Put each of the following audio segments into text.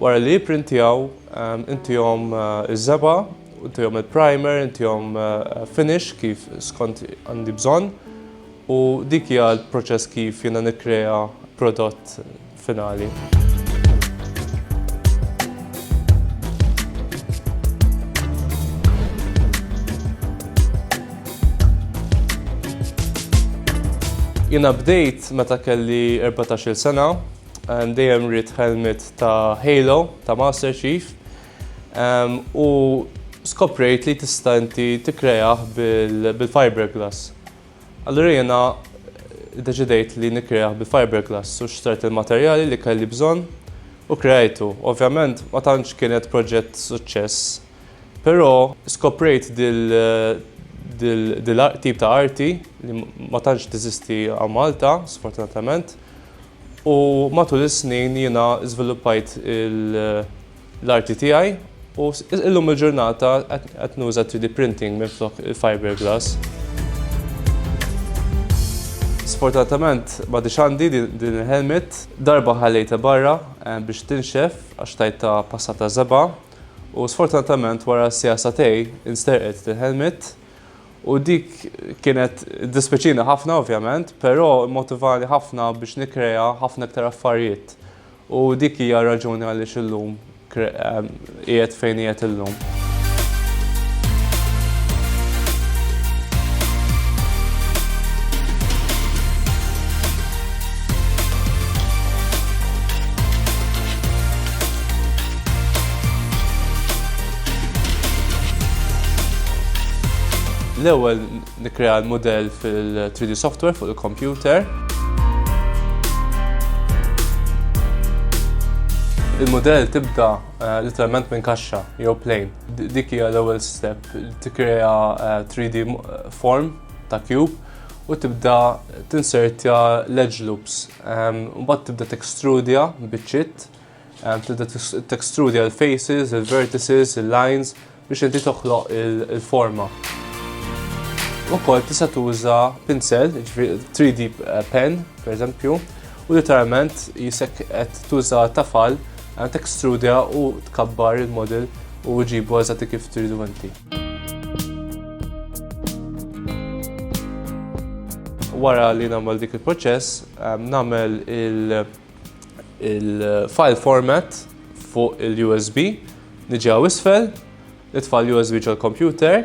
Wara li jipprintjaw, intihom iż-żebgħa, intihom il-primer, intihom finish kif skont għandi bżonn u dik hija l-proċess kif jiena nikkrea prodott finali. Jiena bdejt meta kelli erbatax-il sena. and dejjem ried helmet ta' Halo ta' Master Chief um, u skoprejt li tista' inti tikkreah bil-fiberglass. Allura jiena deċidejt li nikkreah bil-fiberglass u xtrajt il-materjali li kelli bżonn u kreajtu. Ovvjament ma tantx kienet proġett suċċess, però skoprejt dil dil tip ta' arti li ma tantx teżisti għal Malta, sfortunatament. U matul is-snin jiena żviluppajt l-arti tiegħi u illum il-ġurnata qed nuża 3D printing minflok il-fiberglass. Sfortunatament m'għadhiex għandi din il-helmet. Darba ħallejtha barra biex tinxef għax tajtha passata żebgħa u sfortunatament wara siegħa sagħtejn insterqet il-helmet. U dik kienet dispeċini ħafna ovvjament, però mmotivani ħafna biex nikkrea ħafna iktar affarijiet. U dik hija r-raġuni għaliex illum qiegħed fejn qiegħed illum. L-ewwel nikkrea l-mudell fil-3D software fuq il-kompjuter. Il-modell tibda eh, literalment minn kaxxa jew plane. Dik hija l-ewwel step tikkrea 3D eh, eh, form ta' cube u tibda tinsertja l-edge loops. Mbagħad tibda tekstrudja biċċiet Tibda textrudja l-faces, il-vertices, il-lines biex inti toħloq il-forma. Ukoll tista' tuża pinsel, 3D eh, pen, per eżempju, u literalment jisek qed tuża tafal eh, textrudja u tkabbar il-model u ġibu għazati kif tridu inti. Wara li nagħmel dik il-proċess, eh, nagħmel il-, -proċess, il-file format fuq il-USB, niġi għaw isfel, nitfa l-USB ġol computer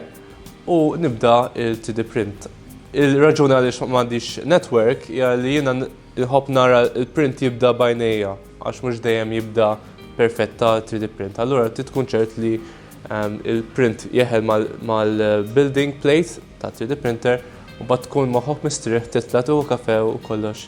u nibda il-3D print. Il-raġuna li xmandix network hija li jiena nħobb nara il-print jibda bajnejja għax mhux dejjem jibda perfetta 3D print. Allura ti tkun ċert li ehm, il-print jeħel mal-building plate ta' 3D printer u bat tkun moħok mistrieħ titla tu kafe u kollox.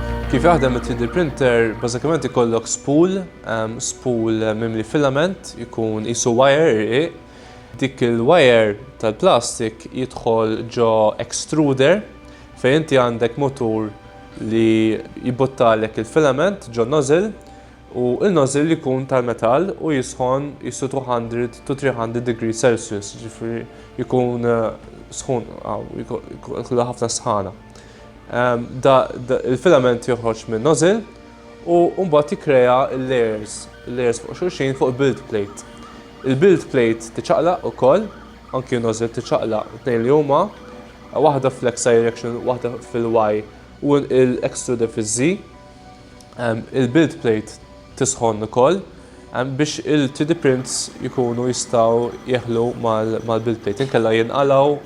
Kif jaħdem it-3D printer, bażikament ikollok spool, ehm, spool mimli filament, ikun isu wire irqiq. Dik il-wire tal-plastik jidħol ġo extruder fejn inti għandek motur li jibuttalek il-filament ġo nozzle u il-nozzle li jkun tal-metall u jisħon jisu 200 to 300 degree Celsius, ġifri jkun eh, sħun, ħafna sħana. Il-filament joħroġ minn nozzil u mbagħad jikkrea l-layers, il-layers fuq xulxin fuq build plate. Il-build plate tiċaqlaq ukoll, anki nozzil tiċaqlaq tnejn li huma, waħda fl-X direction, waħda fil-Y u l-extruder fiż-Z. Il-build plate tisħon ukoll biex il-3D prints jkunu jistgħu jeħlu mal-build plate. Inkella jinqalgħu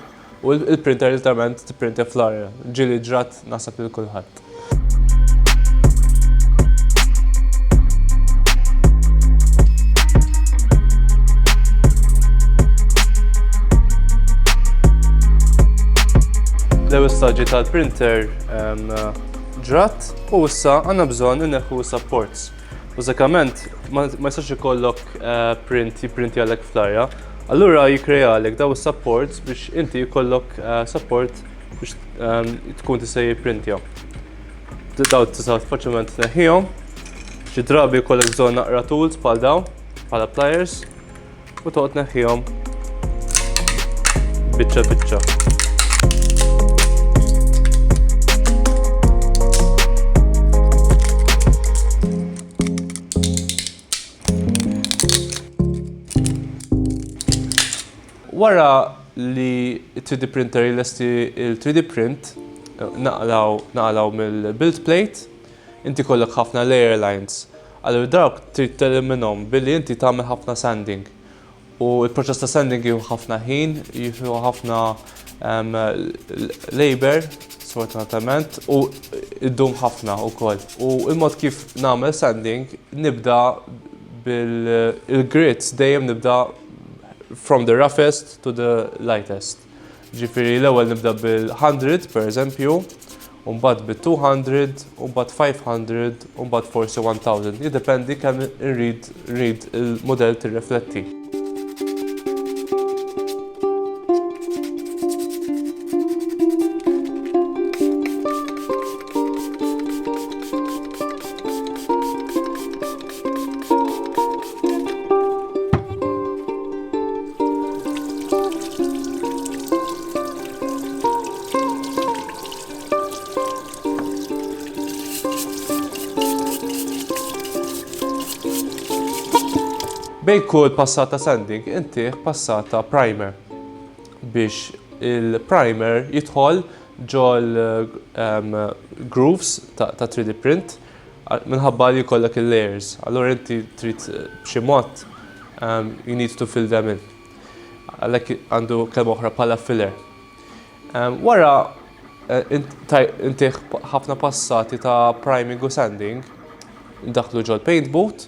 U l-printer literalment tipprintja fl-arja. Ġieli ġrat naħseb lil kulħadd. L-ewwel staġġi tal-printer ġrat u issa għandna bżonn inneħħu supports. Bażikament, ma jistax ikollok print jiprinti għalek fl-arja, allura jikkrealek daw is-supports biex inti jkollok support biex tkun tista' jipprintja. Daw tista' faċilment tneħħihom. Xi drabi jkollok bżonn naqra tools bħal daw, bħala pliers. U toqgħod neħħihom biċċa biċċa. Wara li 3D printer jilesti il-3D print, naqlaw, naqlaw mill-build plate, Inti jkollok ħafna layer lines, allura dawk trid teliminom billi inti tagħmel ħafna sanding. U l-proċess ta' sanding jieħu ħafna ħin, jieħu ħafna labor, sfortunatament, u jdum ħafna wkoll. U l-mod kif nagħmel sanding, nibda bil-grids, dejjem nibda from the roughest to the lightest. Ġifieri l-ewwel nibda bil-hundred, pereżempju, u mbagħad bit-two hundred, u mbagħad five hundred, u mbagħad forsi one thousand. Jiddependi kemm irrid nrid il-mudell tirrifletti. Bej kull passata sanding inti passata primer biex il-primer jidħol ġol ehm, grooves ta' 3D print Minħabba li jkollok il-layers, allura inti trid b'xi mod you need to fill them in. Għalhekk għandu kelma oħra bħala filler. Wara intih ħafna passati ta' priming u sanding, daħlu ġol paint boot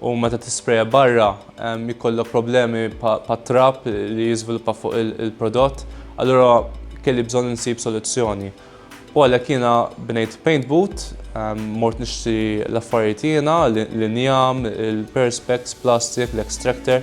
u meta tispreja barra jkollok problemi pat-trab li jiżviluppa fuq il-prodott, allura kelli bżonn insib soluzzjoni. U għalhekk jiena bnejt paint boot, mort nixtri l-affarijiet jiena, l-injam, il-perspex, plastik, l-extractor.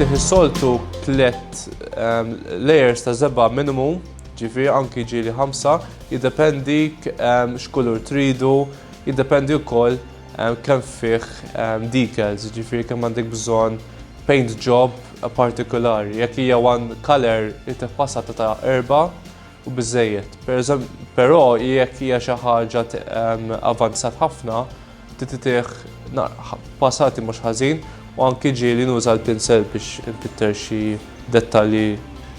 Inti soltu tlet ehm, layers ta' zebba minimum, ġifi anki ġili ħamsa, jiddependi ehm, x'kulur tridu, jiddependi wkoll ehm, kemm fih decals, ġifi kemm għandek bżonn paint job partikulari, jekk hija one color itef passata ta' erba' u biżejjed. Però jekk hija xi ħaġa avanzat ħafna, tititih passati mhux ħażin u anki ġieli nuża l-pinsel biex infitter xi dettalji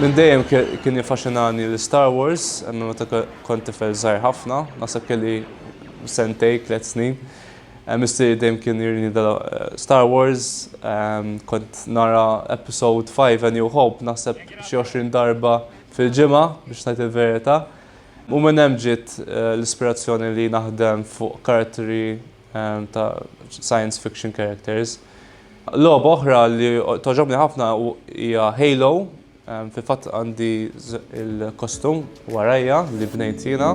Minn dejjem kien jiffaxinani l-Star Wars, minn meta kont tifel żgħir ħafna, naħseb kelli sentej, tliet snin. Missieri dejjem kien jurini Star Wars, kont nara Episode Five, A New Hope, naħseb xi għoxrin darba fil-ġimgħa biex ngħid il-verità. U minn hemm ġiet l-ispirazzjoni li naħdem fuq karattri. ta' science fiction characters. Logħba oħra li toġobni ħafna hija Halo, fi fatt għandi il-kostum warajja li bnejt jiena.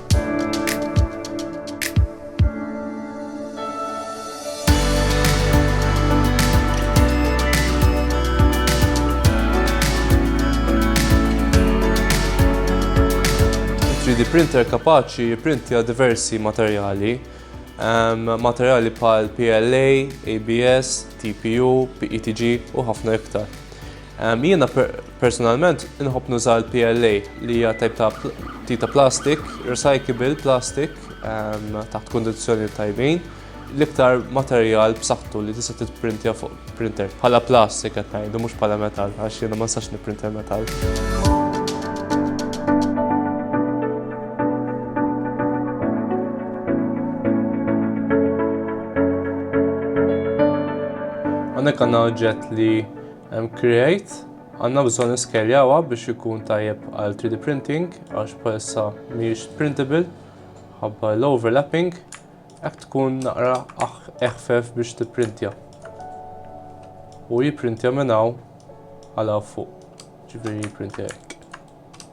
3D printer kapaċi jipprintja diversi materjali, ehm, materjali bħal PLA, ABS, TPU, PETG u ħafna iktar. Jiena personalment inħobb nuża l-PLA li hija tajb ta' tita plastik, recyclable plastik taħt kundizzjoni tajbin l-iktar materjal b'saħħtu li tista' titprintja fuq printer. Bħala plastik qed ngħidu mhux bħala metall għax jiena ma nistax nipprintja metall. Għandek għandna oġġett li Hemm create, għandna bżonn niskeljawha biex ikun tajjeb għal 3D printing għax bħalissa mhijiex printable ħabba l-overlapping hekk tkun naqra eħfef biex tipprintja. U jipprintja minn hawn għal fuq. Ġifieri jipprintja hekk.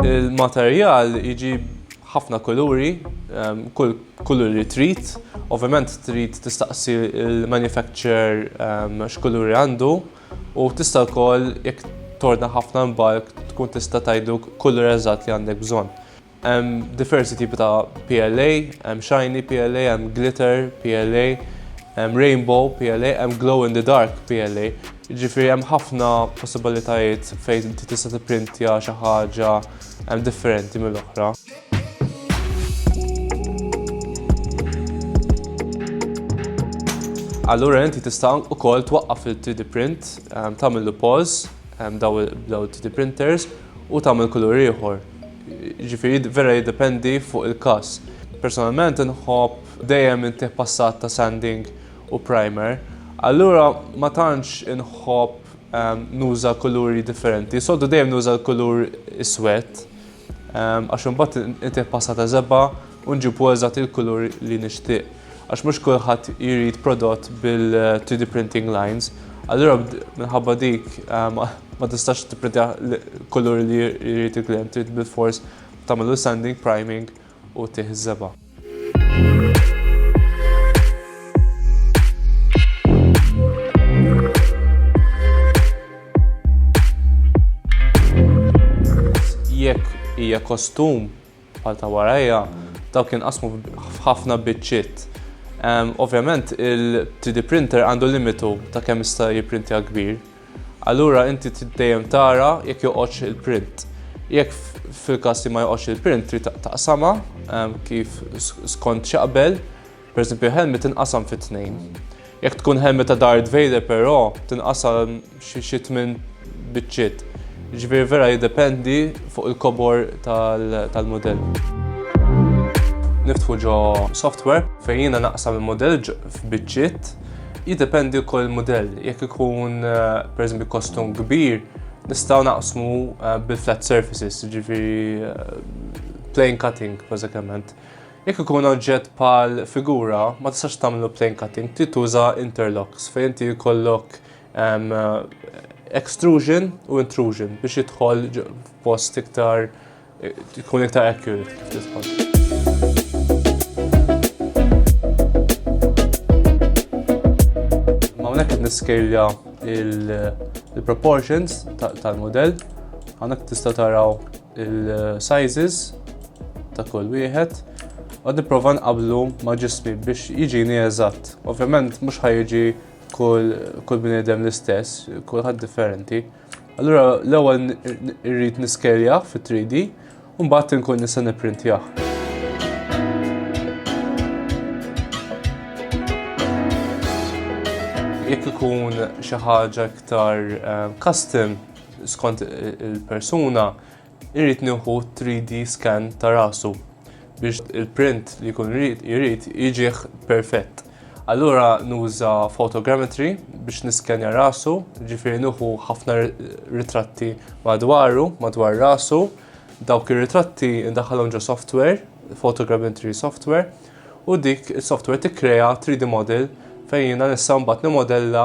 Il-materjal jiġi ħafna kuluri, ehm, kull kuluri trid, ovvjament trid tistaqsi il-manufacturer ehm, x'kuluri għandu u tista' wkoll jekk torna ħafna mbalk tkun tista' tajdu kulur eżatt li għandek bżonn. Hemm diversi tipi ta' PLA, hemm shiny PLA, hemm glitter PLA, hemm rainbow PLA, hemm glow in the dark PLA. Ġifieri hemm ħafna possibilitajiet fejn inti tista' tipprintja xi ħaġa differenti mill-oħra. Allura inti tista' ukoll twaqqaf il-3D print, tagħmillu pause b'dawn it-3D printers u tagħmel kulur ieħor. Jiġifieri vera jiddependi fuq il-każ. Personalment inħobb dejjem intih passat ta' sanding u primer. Allura ma tantx inħobb nuża kuluri differenti. Soltu dejjem nuża l-kulur iswed għax imbagħad intih passat ta' żebgħa u nġibu eżatt il-kulur li nixtieq. għax mhux kulħadd jrid prodott bil-3D printing lines, allura minħabba dik ehm, ma tistax tipprintja kulur li jrid il-klient, trid bil-fors tagħmlu sanding, priming u tiħżeba. Jekk hija kostum Bħal ta' warajja, dawk jinqasmu f'ħafna biċċiet. Ovvjament il-3D printer għandu limitu ta' kemm jista' jipprintja kbir. Allura inti trid dejjem tara jekk joqgħodx il-print. Jekk fil-każ li ma joqgħodx il-print trid taqsamha kif skont x'jaqbel. Pereżempju, ħelmi tinqasam fi tnejn. Jekk tkun ħelmi ta' Darth Vader però tinqasam xi tmien biċċiet. Ġifieri vera jiddependi fuq il-kobor tal-mudell. Niftħu ġo software fejn jiena naqsam il-mudell f'biċċiet. Jiddependi wkoll il-mudell. Jekk ikun pereżempju kostum kbir, nistgħu naqsmu bil-flat surfaces, ġifieri plain cutting bażikament. Jekk ikun oġġett bħal figura, ma tistax tagħmlu plane cutting, trid tuża interlocks fejn inti jkollok ehm, extrusion u intrusion biex jidħol post iktar tkun eh, iktar accurate kif tidħol. niskelja il-proportions tal-modell. Għanak tista taraw il-sizes ta' kull wieħed u nipprova nqablu ma' ġismi biex jiġini eżatt. Ovvjament mhux ħajġi kull kull bniedem l-istess, kulħadd differenti. Allura l-ewwel irrid niskerja fit-3D u mbagħad inkun nista' nipprintjah. Jekk ikun xi ħaġa iktar eh, custom, Skont il-persuna irrid nieħu 3D scan ta' rasu biex il-print li jkun jrid jiġih perfett. Allura nuża photogrammetry biex niskenja rasu, ġifieri nieħu ħafna ritratti madwaru, madwar rasu, dawk ir-ritratti ndaħħalhom ġo software, photogrammetry software, u dik is-software tikkrea 3D model fejn jiena nista' mbagħad nimodella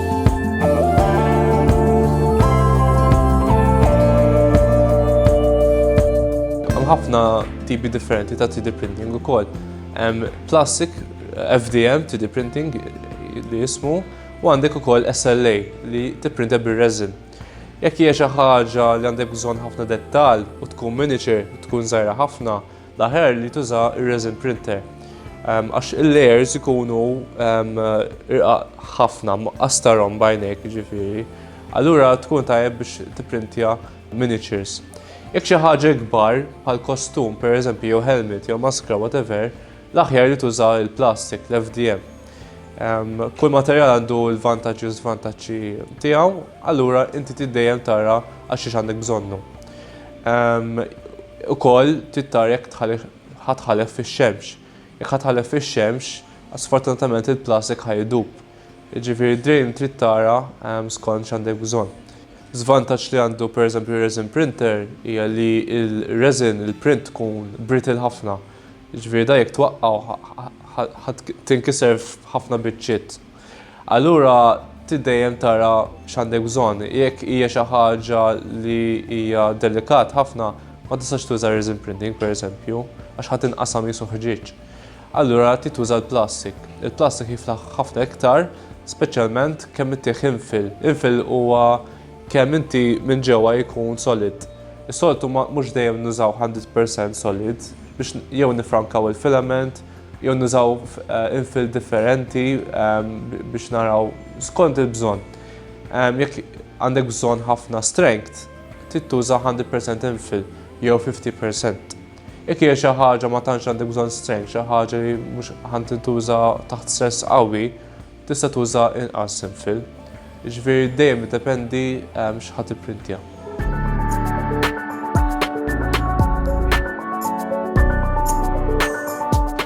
ħafna tipi differenti ta' 3D printing ukoll. Hemm plastic, FDM, 3D printing li jismu, u għandek ukoll SLA li tipprinta bir-resin. Jekk hija xi ħaġa li għandek bżonn ħafna dettal u tkun miniature, tkun żgħira ħafna, L-aħjar li tuża r-resin printer għax il-layers ikunu irqaq ħafna, astarhom bajnejk jiġifieri. Allura tkun tajjeb biex tipprintja miniatures. Jekk xi ħaġa ikbar bħal kostum pereżempju jew helmet jew maskra whatever, l-aħjar li tuża l-plastik, l-FDM. Kull materjal għandu l-vantaġġi u żvantaġġi tiegħu, allura inti tiddejjem tara għax xiex għandek bżonnu. Ukoll trid tara jekk ħa tħallef fix-xemx. Jekk ħa tħallef fix-xemx, sfortunatament il-plastik ħa idub. Jiġifieri d-drain trid tara skont x'għandek bżonn. Żvantaġġ li għandu pereżempju r-resin printer hija li l-resin, il-print tkun brittle ħafna. Jiġifieri dan jekk twaqqgħu ħa tinkiser f'ħafna biċċiet. Allura trid dejjem tara x'għandek bżonn. Jekk hija xi ħaġa li hija delikat ħafna, ma tistax tuża resin printing pereżempju, għax ħa tinqasam qisu ħġieġ. Allura trid tuża l-plastik. Il-plastik jiflaħ ħafna iktar, speċjalment kemm ittih infil. Infil huwa kemm inti minn ġewwa jkun solid. Is-soltu mhux dejjem nużaw 100% solid biex jew nifrankaw il-filament, jew nużaw infill differenti biex naraw skont il-bżonn. Jekk għandek bżonn ħafna strength, trid tuża 100% infill jew 50%. Jekk hija xi ħaġa ma tantx għandek bżonn strength, xi ħaġa li mhux ħan tintuża taħt stress qawwi, Tista' tuża inqas imfill, jiġifieri dejjem iddependi x'ħa tipprintja.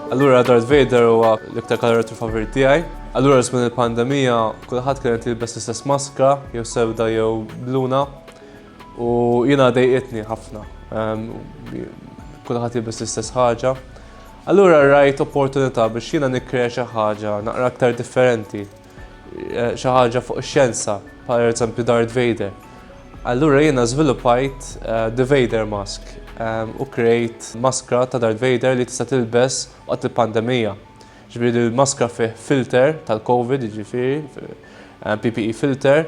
Allura Darth Vader huwa l-iktar karattru favorit tiegħi. Allura żmien il-pandemija kulħadd kienet jilbes l-istess maskra, jew sewda jew bluna. U jiena dejqitni ħafna. Kulħadd jilbes l-istess ħaġa. Allura rajt opportunità biex jiena nikkrea xi ħaġa naqra aktar differenti. Eh, xi ħaġa fuq ix-xjenza, per eżempju Darth Vader. Allura jiena żviluppajt eh, The Vader Mask eh, u krejt maskra ta' Darth Vader li tista' tilbes waqt il-pandemija. Ġifieri l-maskra fih filter tal-COVID, ġifieri PPE filter,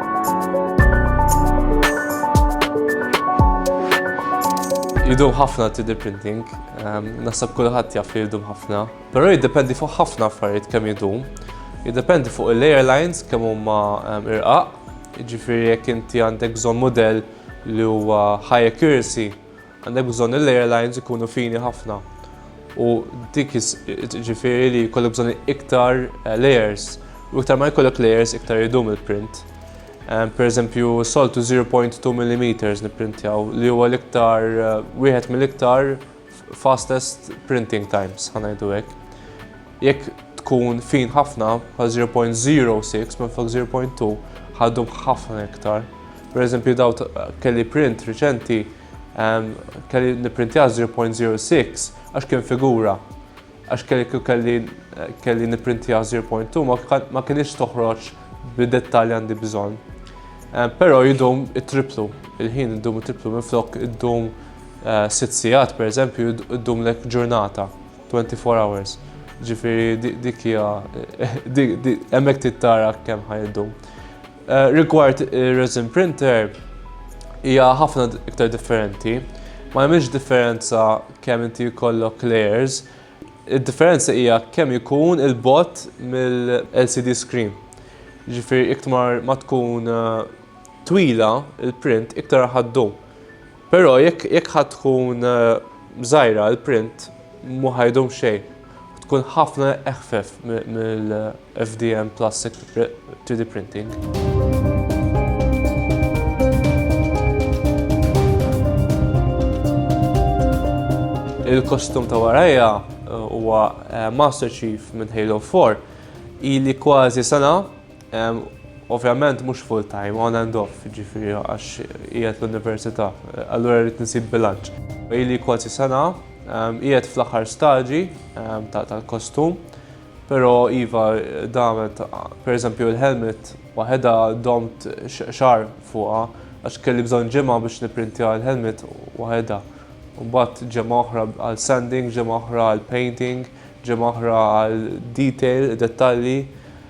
Jidum ħafna 3D printing, ehm, nasab kulħadd jaf li jidum ħafna. Però jiddependi fuq ħafna affarijiet kemm jidum. Jiddependi fuq il-airlines kemm huma ehm, irqaq. Ġifieri jekk inti għandek bżonn mudell li huwa high accuracy, Għandek bżonn li l-airlines ikunu fini ħafna u dik ġifieri li jkollok bżonn iktar eh, layers u iktar ma jkollok layers iktar idum il-print. Eh, per eżempju, soltu 0.2 mm nipprintjaw li huwa l-iktar eh, wieħed mill-iktar fastest printing times, ħanajdu hekk. Jekk tkun fin ħafna, bħal 0.06 minflok 0.2, ħaddum ħafna iktar. Per eżempju, daw kelli print riċenti, ehm, kelli niprintja 0.06 għax kien figura. Għax kelli kelli kelli niprintja 0.2 ma kienx toħroġ bid-dettalji għandi bżonn. Eh, però jidum it-triplu, il-ħin id-dum it-triplu, minflok id-dum eh, sitt sigħat, per eżempju, id-dum lek ġurnata. 24 hours, ġifieri dik hija hemmhekk trid tara kemm ħa iddum. Eh, rigward ir-resin printer hija ħafna iktar differenti. Ma hemmx differenza kemm inti jkollok layers, id-differenza hija kemm ikun il-bot mill-LCD screen. Ġifieri iktar ma tkun eh, twila il-print iktar ħaddum. Però jekk jekk ħa tkun żgħira l-print mhu ħa jdum xejn. Tkun ħafna eħfef mill-FDM plastic 3D printing. Il-kostum ta' warajja huwa Master Chief minn Halo 4. Ili kważi sena Ovvjament mhux full time, on and off, jiġifieri għax qiegħed l-università, allura rrid insib bilanċ. Ili kważi sena, qiegħed fl-aħħar stadji tal-kostum, però iva damet, pereżempju l-helmet waħedha domt xahar fuqha għax kelli bżonn ġimgħa biex nipprintja l-helmet waħedha. Mbagħad ġimgħa oħra għal sanding, ġimgħa oħra għal painting, ġimgħa oħra għal detail, dettalji.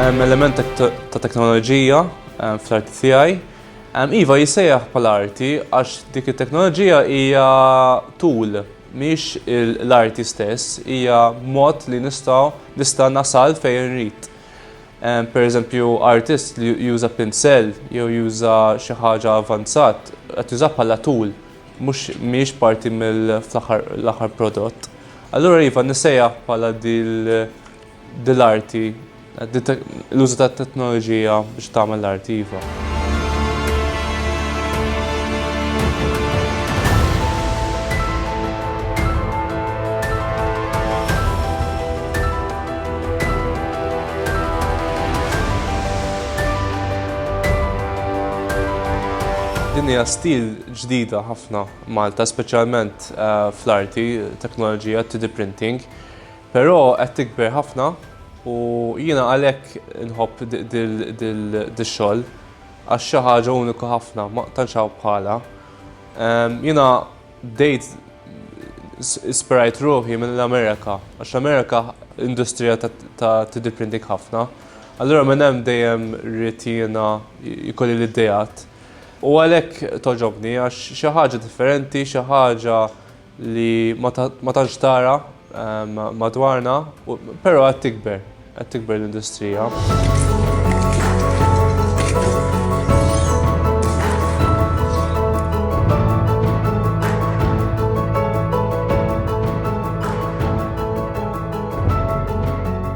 Hemm element ta' teknoloġija eh, fl-arti tiegħi. Iva jissejjaħ bħala arti għax dik it-teknoloġija hija tul miex l-arti stess, hija mod li nistgħu nista' nasal fejn rrit. Per eżempju, artist li juża pinsell jew juża xi ħaġa avanzat, qed juża bħala tool, mhux mhijiex parti mill-aħħar prodott. Allura iva nisejjaħ bħala dil-arti, l-użu tat-teknoloġija biex tagħmel l-arti iva. Din hija stil ġdida ħafna Malta, speċjalment eh, fl-arti, teknoloġija, 3D printing, però qed tikber ħafna u jiena għalhekk nħobb dil-xogħol għax xi ħaġa uniku ħafna, ma tantx bħala. Ehm, jiena Bdejt ispirajt ruħi mill-Amerika, għax l-Amerika industrija ta' 3D printing ħafna. Allura minn hemm dejjem rrid jiena jkolli l-ideat. U għalhekk togħġobni għax xi ħaġa differenti, xi ħaġa li ma tantx tara madwarna, però qed tikber. Qed tikber l-industrija.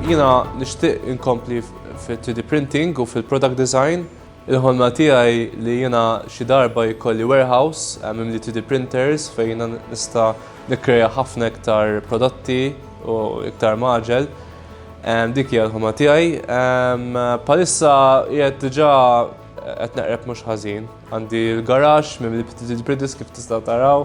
Jiena nixtieq inkompli fit-3D printing u fil-product design. Il-ħolma tiegħi li jiena xi darba jkolli warehouse mimli 3D printers fejn jiena nista' nikkrea ħafna iktar prodotti u iktar magħġel. Dik hija l-ħolma tiegħi. Bħalissa qiegħed diġà qed neqreb mhux ħażin. Għandi l-garaxx mimli 3D printers kif tistgħu taraw.